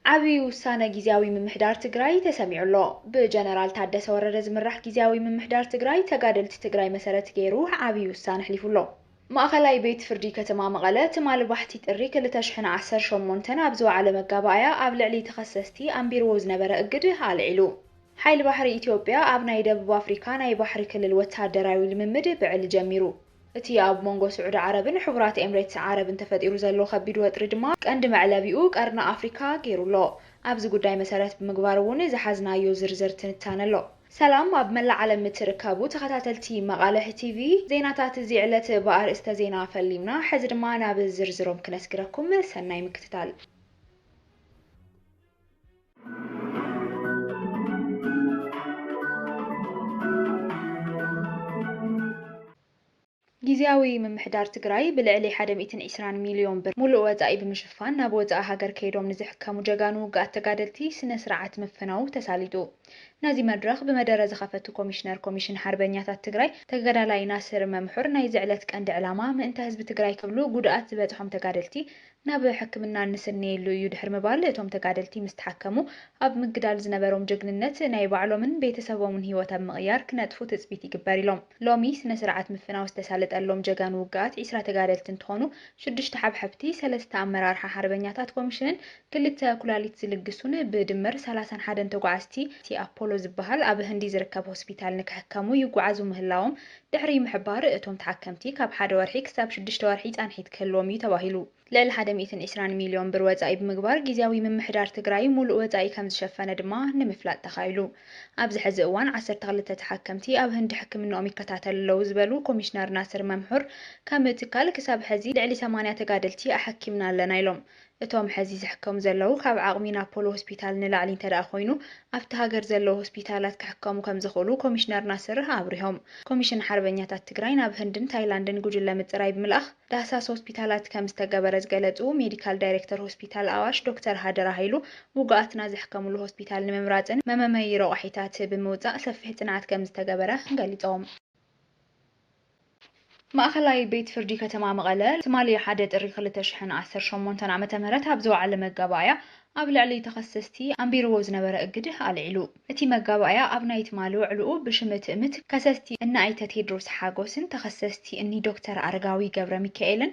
ዓብዪ ውሳነ ጊዚያዊ ምምሕዳር ትግራይ ተሰሚዑ ኣሎ። ብጀነራል ታደሰ ወረደ ዝምራሕ ጊዚያዊ ምምሕዳር ትግራይ ተጋደልቲ ትግራይ መሰረት ገይሩ ዓብዪ ውሳነ ኣሕሊፉ ኣሎ። ማእኸላይ ቤት ፍርዲ ከተማ መቐለ ትማል ባሕቲ ጥሪ ክልተ ሽሕን ዓሰርተ ሸሞንተን ኣብ ዝወዓለ መጋባእያ ኣብ ልዕሊ ተኸሰስቲ ኣንቢርዎ ዝነበረ እግድ ኣልዒሉ። ሓይሊ ባሕሪ ኢትዮጵያ ኣብ ናይ ደቡብ ኣፍሪካ ናይ ባሕሪ ክልል ወታደራዊ ልምምድ ብዕሊ ጀሚሩ። እቲ ኣብ መንጎ ስዑዲ ዓረብን ሕቡራት ኤምሬትስ ዓረብን ተፈጢሩ ዘሎ ከቢድ ወጥሪ ድማ ቀንዲ መዕለቢኡ ቀርኒ ኣፍሪካ ገይሩ ኣሎ። ኣብዚ ጉዳይ መሰረት ብምግባር እውን ዝሓዝናዮ ዝርዝር ትንታነ ኣሎ። ሰላም ኣብ መላእ ዓለም እትርከቡ ተኸታተልቲ መቓልሕ ቲቪ፣ ዜናታት እዚ ዕለት ብኣርእስተ ዜና ፈሊምና፣ ሕዚ ድማ ናብ ዝርዝሮም ክነስግረኩም፣ ሰናይ ምክትታል። ጊዚያዊ ምምሕዳር ትግራይ ብልዕሊ ሓደ ሚእትን ዒስራን ሚሊዮን ብር ሙሉእ ወፃኢ ብምሽፋን ናብ ወፃኢ ሃገር ከይዶም ንዝሕከሙ ጀጋኑ ውግኣት ተጋደልቲ ስነ ስርዓት ምፍናዉ ተሳሊጡ ነዚ መድረኽ ብመደረ ዝኸፈቱ ኮሚሽነር ኮሚሽን ሓርበኛታት ትግራይ ተገዳላይ ናስር መምሑር ናይዚ ዕለት ቀንዲ ዕላማ ምእንተ ህዝቢ ትግራይ ክብሉ ጉድኣት ዝበፅሖም ተጋደልቲ ናብ ሕክምና እንስነየሉ እዩ ድሕሪ ምባል እቶም ተጋደልቲ ምስ ተሓከሙ ኣብ ምግዳል ዝነበሮም ጀግንነት ናይ ባዕሎምን ቤተሰቦምን ህይወት ኣብ ምቕያር ክነጥፉ ትፅቢት ይግበር ኢሎም። ሎሚ ስነ ስርዓት ምፍናው ዝተሳለጠሎም ጀጋኑ ውግኣት ዒስራ ተጋደልቲ እንትኾኑ ሽዱሽተ ሓብሐብቲ፣ ሰለስተ ኣመራርሓ ሓርበኛታት ኮሚሽንን ክልተ ኩላሊት ዝልግሱን ብድምር ሰላሳን ሓደን ተጓዓዝቲ ኣፖሎ ዝበሃል ኣብ ህንዲ ዝርከብ ሆስፒታል ንክሕከሙ ይጓዓዙ ምህላዎም ድሕሪ ምሕባር እቶም ተሓከምቲ ካብ ሓደ ወርሒ ክሳብ ሽዱሽተ ወርሒ ፃንሒት ክህልዎም እዩ ተባሂሉ። ልዕሊ ሓደ ሚእትን ዕስራን ሚልዮን ብር ወፃኢ ብምግባር ጊዚያዊ ምምሕዳር ትግራይ ሙሉእ ወፃኢ ከምዝሸፈነ ድማ ንምፍላጥ ተኻኢሉ። ኣብዚ ሕዚ እዋን ዓሰርተ ክልተ ተሓከምቲ ኣብ ህንዲ ሕክምንኦም ይከታተሉ ኣለው ዝበሉ ኮሚሽነር ናስር መምሑር ከም ትካል ክሳብ ሕዚ ልዕሊ ሰማንያ ተጋደልቲ ኣሐኪምና ኣለና ኢሎም። እቶም ሐዚ ዝሕከሙ ዘለዉ ካብ ዓቕሚ ናብ ፖሎ ሆስፒታል ንላዕሊ እንተድኣ ኮይኑ ኣብቲ ሃገር ዘለዉ ሆስፒታላት ክሕከሙ ከምዝኽእሉ ኮሚሽነር ናስር ኣብሪሆም። ኮሚሽን ሓርበኛታት ትግራይ ናብ ህንድን ታይላንድን ጉጅለ ምፅራይ ብምልኣኽ ዳህሳስ ሆስፒታላት ከምዝተገበረ ዝገለፁ ሜዲካል ዳይሬክተር ሆስፒታል ኣዋሽ ዶክተር ሃደራ ሃይሉ ውጉኣትና ዝሕከምሉ ሆስፒታል ንምምራፅን መመመዪ ረቋሒታት ብምውፃእ ሰፊሕ ፅንዓት ከምዝተገበረ ገሊፆም። ማእኸላይ ቤት ፍርዲ ከተማ መቐለ ትማሊ ሓደ ጥሪ ክልተ ሽሕን ዓሰርተ ሸሞንተን ዓመተ ምህረት ኣብ ዝወዓለ መጋባእያ ኣብ ልዕሊ ተኸሰስቲ ኣንቢርዎ ዝነበረ እግድ ኣልዒሉ። እቲ መጋባእያ ኣብ ናይ ትማሊ ውዕልኡ ብሽም ትእምት ከሰስቲ እኒ ኣይተ ቴድሮስ ሓጎስን ተኸሰስቲ እኒ ዶክተር ኣረጋዊ ገብረሚካኤልን፣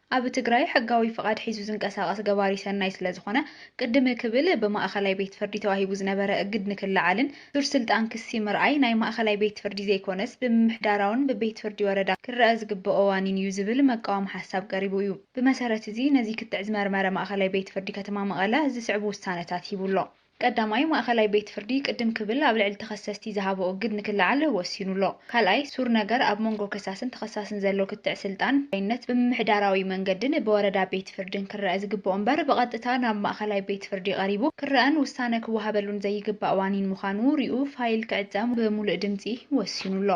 ኣብ ትግራይ ሕጋዊ ፍቓድ ሒዙ ዝንቀሳቐስ ገባሪ ሰናይ ስለዝኾነ ቅድም ክብል ብማእኸላይ ቤት ፍርዲ ተዋሂቡ ዝነበረ እግድ ንክለዓልን ሱር ስልጣን ክሲ ምርኣይ ናይ ማእኸላይ ቤት ፍርዲ ዘይኮነስ ብምምሕዳራውን ብቤት ፍርዲ ወረዳ ክረኣ ዝግበኦ ዋኒን እዩ ዝብል መቃወም ሓሳብ ቀሪቡ እዩ። ብመሰረት እዚ ነዚ ክትዕ ዝመርመረ ማእኸላይ ቤት ፍርዲ ከተማ መቐለ ዝስዕቡ ውሳነታት ሂቡ ኣሎ። ቀዳማይ፣ ማእከላይ ቤት ፍርዲ ቅድም ክብል ኣብ ልዕሊ ተኸሰስቲ ዝሃቦ እግድ ንክለዓል ወሲኑ ኣሎ። ካልኣይ፣ ሱር ነገር ኣብ መንጎ ከሳስን ተኸሳስን ዘሎ ክትዕ ስልጣን ዳይነት ብምምሕዳራዊ መንገድን ብወረዳ ቤት ፍርድን ክረኣ ዝግበኦ እምበር ብቐጥታ ናብ ማእከላይ ቤት ፍርዲ ቀሪቡ ክረኣን ውሳነ ክወሃበሉን ዘይግባእ ዋኒን ምዃኑ ሪኡ ፋይል ክዕጸ ብሙሉእ ድምጺ ወሲኑ ኣሎ።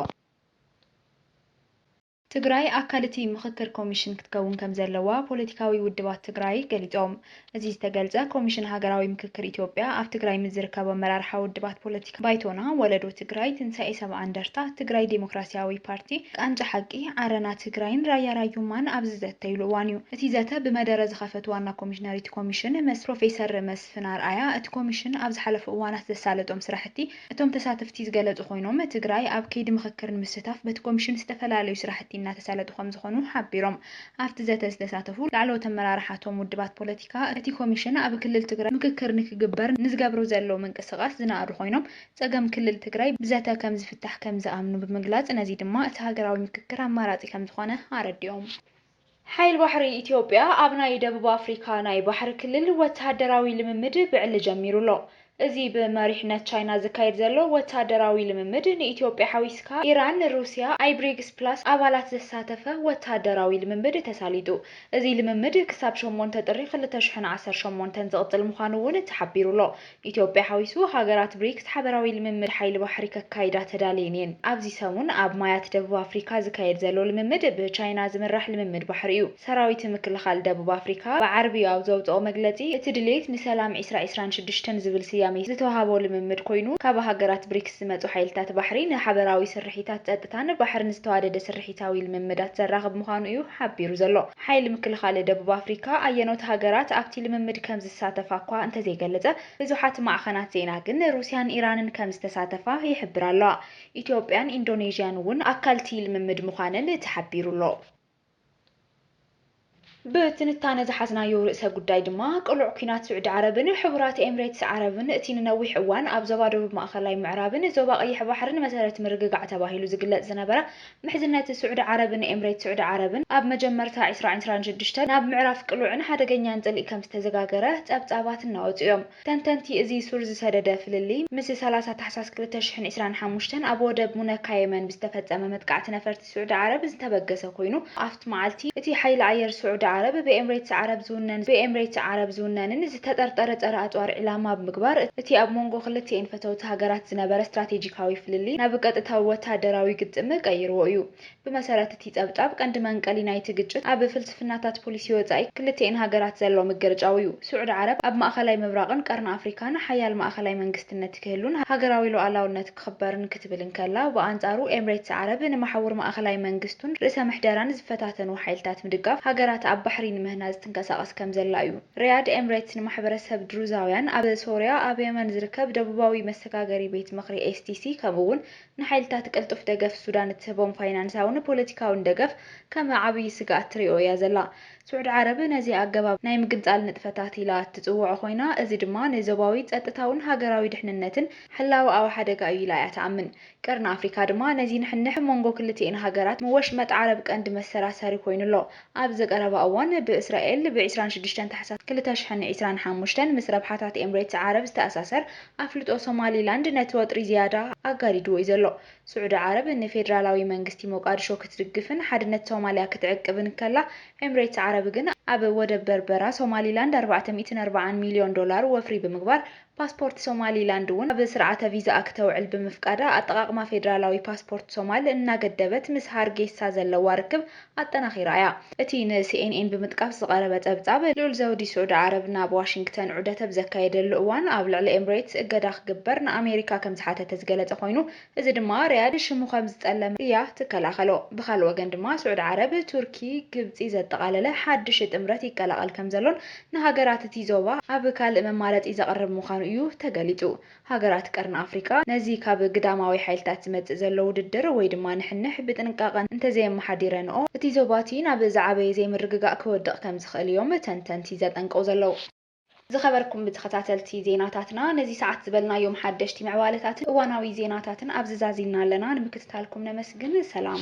ትግራይ ኣካል እቲ ምኽክር ኮሚሽን ክትከውን ከምዘለዋ ፖለቲካዊ ውድባት ትግራይ ገሊፆም። እዚ ዝተገልፀ ኮሚሽን ሃገራዊ ምክክር ኢትዮጵያ ኣብ ትግራይ ምስ ዝርከቡ ኣመራርሓ ውድባት ፖለቲካ ባይቶና፣ ወለዶ ትግራይ፣ ትንሳኤ ሰብዓ እንደርታ፣ ትግራይ ዴሞክራሲያዊ ፓርቲ፣ ቃንጫ ሓቂ፣ ዓረና ትግራይን ራያ ራዩማን ኣብ ዝዘተይሉ እዋን እዩ። እቲ ዘተ ብመደረ ዝኸፈቱ ዋና ኮሚሽነር እቲ ኮሚሽን መስ ፕሮፌሰር መስፍን ኣርኣያ እቲ ኮሚሽን ኣብ ዝሓለፉ እዋናት ዘሳለጦም ስራሕቲ እቶም ተሳተፍቲ ዝገለፁ ኮይኖም፣ ትግራይ ኣብ ከይዲ ምኽክር ንምስታፍ በቲ ኮሚሽን ዝተፈላለዩ ስራሕቲ እናተሳለጡ ከምዝኾኑ ሓቢሮም። ኣፍቲ ዘተ ዝተሳተፉ ላዕለዎት ኣመራርሓ እቶም ውድባት ፖለቲካ፣ እቲ ኮሚሽን ኣብ ክልል ትግራይ ምኽክር ንክግበር ንዝገብሮ ዘሎ ምንቅስቓስ ዝነኣዱ ኮይኖም፣ ፀገም ክልል ትግራይ ብዘተ ከምዝፍታሕ ከምዝኣምኑ ብምግላፅ፣ ነዚ ድማ እቲ ሃገራዊ ምኽክር ኣማራፂ ከምዝኾነ ኣረዲኦም። ሓይል ባሕሪ ኢትዮጵያ ኣብ ናይ ደቡብ ኣፍሪካ ናይ ባሕሪ ክልል ወተሃደራዊ ልምምድ ብዕሊ ጀሚሩ ኣሎ። እዚ ብመሪሕነት ቻይና ዝካየድ ዘሎ ወተሃደራዊ ልምምድ ንኢትዮጵያ ሓዊስካ ኢራን፣ ሩስያ፣ ኣይ ብሪግስ ፕላስ ኣባላት ዘሳተፈ ወተሃደራዊ ልምምድ ተሳሊጡ። እዚ ልምምድ ክሳብ ሸሞንተ ጥሪ ክልተ ሽሕን ዓሰርተ ሸሞንተን ዝቕፅል ምዃኑ እውን ተሓቢሩ ኣሎ። ኢትዮጵያ ሓዊሱ ሃገራት ብሪክስ ሓበራዊ ልምምድ ሓይሊ ባሕሪ ከካይዳ ተዳልየን እየን። ኣብዚ ሰሙን ኣብ ማያት ደቡብ ኣፍሪካ ዝካየድ ዘሎ ልምምድ ብቻይና ዝምራሕ ልምምድ ባሕሪ እዩ። ሰራዊት ምክልኻል ደቡብ ኣፍሪካ ብዓርቢ ኣብ ዘውፀኦ መግለፂ እቲ ድሌት ንሰላም ዒስራ ዒስራን ሽዱሽተን ዝብል ስያሜ ዝተውሃቦ ልምምድ ኮይኑ ካብ ሃገራት ብሪክስ ዝመፁ ሓይልታት ባሕሪ ንሓበራዊ ስርሒታት ፀጥታን ባሕርን ዝተዋደደ ስርሒታዊ ልምምዳት ዘራኽብ ምዃኑ እዩ ሓቢሩ ዘሎ። ሓይሊ ምክልኻል ደቡብ ኣፍሪካ ኣየኖት ሃገራት ኣብቲ ልምምድ ከም ዝሳተፋ'ኳ እንተዘይገለጸ፣ ብዙሓት ማዕኸናት ዜና ግን ሩስያን ኢራንን ከም ዝተሳተፋ ይሕብራ ኣለዋ። ኢትዮጵያን ኢንዶኔዥያን'ውን ኣካል'ቲ ልምምድ ምዃነን ተሓቢሩ'ሎ። ብትንታነ ዝሓዝናዮ ርእሰ ጉዳይ ድማ፣ ቅሉዕ ኲናት ስዑዲ ዓረብን ሕቡራት ኤምሬትስ ዓረብን፣ እቲ ንነዊሕ እዋን ኣብ ዞባ ደቡብ ማእኸላይ ምዕራብን ዞባ ቀይሕ ባሕርን መሰረት ምርግጋዕ ተባሂሉ ዝግለጽ ዝነበረ ምሕዝነት ስዑዲ ዓረብን ኤምሬት ስዑዲ ዓረብን ኣብ መጀመርታ ዕስራ ዕስራን ሽዱሽተን ናብ ምዕራፍ ቅሉዕን ሓደገኛን ጽልኢ ከም ዝተዘጋገረ ጸብጻባት እናወጹ እዮም። ተንተንቲ እዚ ሱር ዝሰደደ ፍልልይ ምስ ሰላሳ ታሕሳስ ክልተ ሽሕን ዕስራን ሓሙሽተን ኣብ ወደብ ሙነካ የመን ብዝተፈጸመ መጥቃዕቲ ነፈርቲ ስዑዲ ዓረብ ዝተበገሰ ኮይኑ ኣብቲ መዓልቲ እቲ ሓይሊ ኣየር ስዑዲ ዓረብ ብኤምሬትስ ዓረብ ዝውነን ብኤምሬትስ ዓረብ ዝውነንን ዝተጠርጠረ ጸረ ኣጽዋር ዒላማ ብምግባር እቲ ኣብ ሞንጎ ክልቲኤን ፈተውቲ ሃገራት ዝነበረ ስትራቴጂካዊ ፍልልይ ናብ ቀጥታዊ ወተሃደራዊ ግጥም ቀይርዎ እዩ። ብመሰረት እቲ ጸብጻብ፣ ቀንዲ መንቀሊ ናይቲ ግጭት ኣብ ፍልስፍናታት ፖሊሲ ወጻኢ ክልቲኤን ሃገራት ዘሎ ምግርጫው እዩ። ስዑዲ ዓረብ ኣብ ማእከላይ ምብራቕን ቀርኒ ኣፍሪካን ሓያል ማእከላይ መንግስትነት ክህሉን ሃገራዊ ሉኣላውነት ክኽበርን ክትብል እንከላ፣ ብኣንጻሩ ኤምሬትስ ዓረብ ንመሓውር ማእከላይ መንግስቱን ርእሰ ምሕደራን ዝፈታተኑ ሓይልታት ምድጋፍ ሃገራት ኣብ ባሕሪ ንምህናጽ ትንቀሳቐስ ከምዘላ እዩ። ሪያድ ኤምሬትስ ንማሕበረሰብ ድሩዛውያን ኣብ ሶርያ ኣብ የመን ዝርከብ ደቡባዊ መሰጋገሪ ቤት ምኽሪ STC ከምኡ'ውን ንሓይልታት ቅልጡፍ ደገፍ ሱዳን እትህቦም ፋይናንሳውን ፖለቲካውን ደገፍ ከም ዓብዪ ስግኣት ትሪኦ እያ ዘላ። ስዑድ ዓረብ ነዚ ኣገባብ ናይ ምግንጻል ንጥፈታት ኢላ እትጽውዖ ኮይና እዚ ድማ ንዞባዊ ጸጥታውን ሃገራዊ ድሕንነትን ሕላወኣዊ ሓደጋ እዩ ኢላ እያ ትኣምን። ቀርኒ ኣፍሪካ ድማ ነዚ ንሕንሕ ብ መንጎ ክልቲኤን ሃገራት ወሽመጥ ዓረብ ቀንዲ መሰራሰሪ ኮይኑ ኣሎ። ኣብዚ ቀረባ እዋን ብ እስራኤል ብ ዕስራን ሽዱሽተን ታሕሳስ ክልተ ሽሕን ዕስራን ሓሙሽተን ምስ ረብሓታት ኤምሬትስ ዓረብ ዝተኣሳሰር ኣፍልጦ ሶማሊ ላንድ ነቲ ወጥሪ ዝያዳ ኣጋዲድዎ እዩ ዘሎ። ስዑዲ ዓረብ ን ፌደራላዊ መንግስቲ ሞቃድሾ ክትድግፍን ሓድነት ሶማልያ ክትዕቅብን ከላ ኤምሬትስ ዓረብ ግን ኣብ ወደብ በርበራ ሶማሊ ላንድ ኣርባዕተ ሚእትን ኣርባዓን ሚልዮን ዶላር ወፍሪ ብምግባር ፓስፖርት ሶማሊላንድ እውን ኣብ ስርዓተ ቪዛኣ ክተውዕል ብምፍቃዳ ኣጠቓቕማ ፌደራላዊ ፓስፖርት ሶማል እናገደበት ምስ ሃርጌሳ ዘለዋ ርክብ ኣጠናኺራ እያ። እቲ ንሲኤንኤን ብምጥቃስ ዝቐረበ ጸብጻብ፣ ልኡል ዘውዲ ስዑዲ ዓረብ ናብ ዋሽንግተን ዑደት ኣብ ዘካየደሉ እዋን ኣብ ልዕሊ ኤምሬትስ እገዳ ክግበር ንኣሜሪካ ከምዝሓተተ ዝገለጸ ኮይኑ፣ እዚ ድማ ሪያድ ሽሙ ከም ዝጠለመ እያ ትከላኸሎ። ብኻልእ ወገን ድማ ስዑድ ዓረብ፣ ቱርኪ፣ ግብጺ ዘጠቓለለ ሓድሽ ጥምረት ይቀላቐል ከም ዘሎን ንሃገራት እቲ ዞባ ኣብ ካልእ መማረጺ ዘቕርብ ምዃኑ እዩ ተገሊጹ። ሃገራት ቀርኒ ኣፍሪቃ ነዚ ካብ ግዳማዊ ሓይልታት ዝመጽእ ዘሎ ውድድር ወይ ድማ ንሕንሕ ብጥንቃቐ እንተዘየመሓዲረንኦ እቲ ዞባ እቲ ናብ ዝዓበየ ዘይምርግጋእ ክወድቕ ከም ዝኽእል እዮም ተንተንቲ ዘጠንቅቑ ዘለዉ። ዝኸበርኩም ተኸታተልቲ ዜናታትና ነዚ ሰዓት ዝበልናዮም ሓደሽቲ ምዕባለታትን እዋናዊ ዜናታትን ኣብዚ ዛዚምና ኣለና። ንምክትታልኩም ነመስግን። ሰላም።